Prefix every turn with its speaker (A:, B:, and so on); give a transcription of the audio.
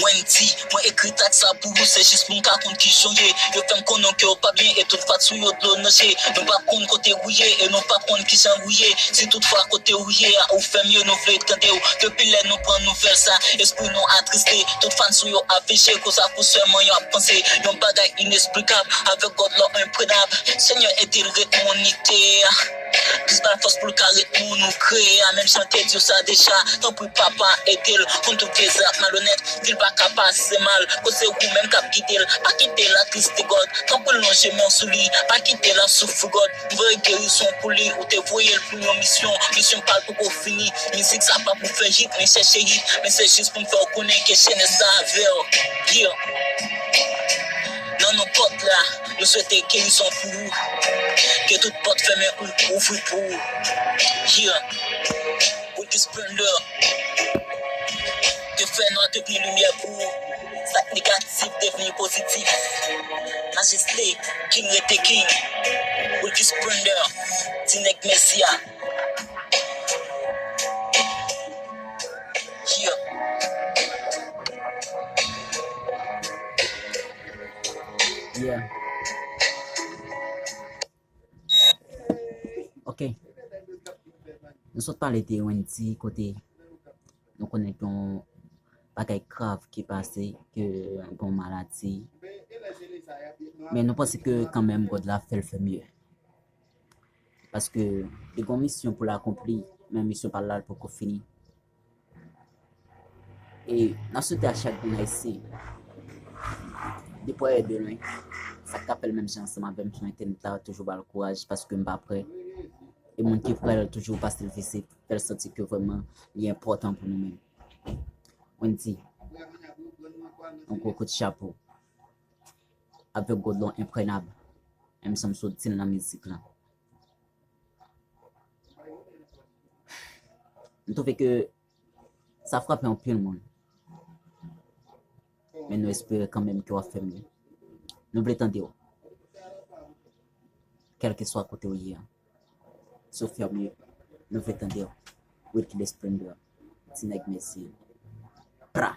A: Wendy, mwen ekri track sa pou ou se jis pou m ka konn kijan w ye Yo fè m konnen w ke w pa byen e tout fans ou yo dlo nan je Nou pa konn kote ou ye e nou pa konn kijan ou ye Si tout fwa kote ou ye a ou fè mye nou vle tande w Depi lè nou pran nouvèl sa espri nou atriste Tout fans ou yo ap veje koz ak ou sèlman yo ap panse Yon bagay inesplikab avèk God love enprenab Senyè ede l ret monite Plis patos poul ka ret moun ou kreye a menm si an te diw sa deja tanpri papa edel konn tout vye zak malonet dil paka pase mal kot se ou menm kap gidel pa kitel atriste God tanpril lonje menw sou li pa kitel ap soufri God m voye gerizon pou li ou te voyel pou yon misyon misyon pal poko fini mizik sa pa pou fè hit men chèche hit men se jis poum fèw konnen ke chenèz la avèw yeah nan nenpot la. Nou swete guerison pou ou. Ke tout pòt fèmen ou ouvri pou ou yeah. Ou di splendor te fè nwa devni limyè pou ou. Sak negatif devni pozitif. Majeste king rete king. Ou di splendor ti nèg mèsi a yeah.
B: Yeah. Ok. Nou sot pale de Wendy kote nou konnen ton bagay grav ki pase ke bon maladi. Men nou panse ke kanmenm God la fèl fè mye. Paske li gon misyon pou l akonpli, men misyon pa l la l poko fini. E nan swete a chak grenn ayisyen depi w al de lwen sak ta fèl menm jan ansanm avèm m swete m ta toujou bal kouraj paske m pa prè e moun ki prè l toujou pasel vizit fèl santi ke vrèman li enpòtan pou nou menm Wendy yon gwo kout chapo avèk godlon enprenab menm jan m sot di l nan mizik lan. M twouve ke sa frape anpil moun. Men nou espere kanmenm ke w ap fè mye. Nou vle tande w. Kèlkeswa kote w ye an. Si w fè mye, nou vle tande w. Wilky The Splendor. Ti nèg Mezyen. Pra!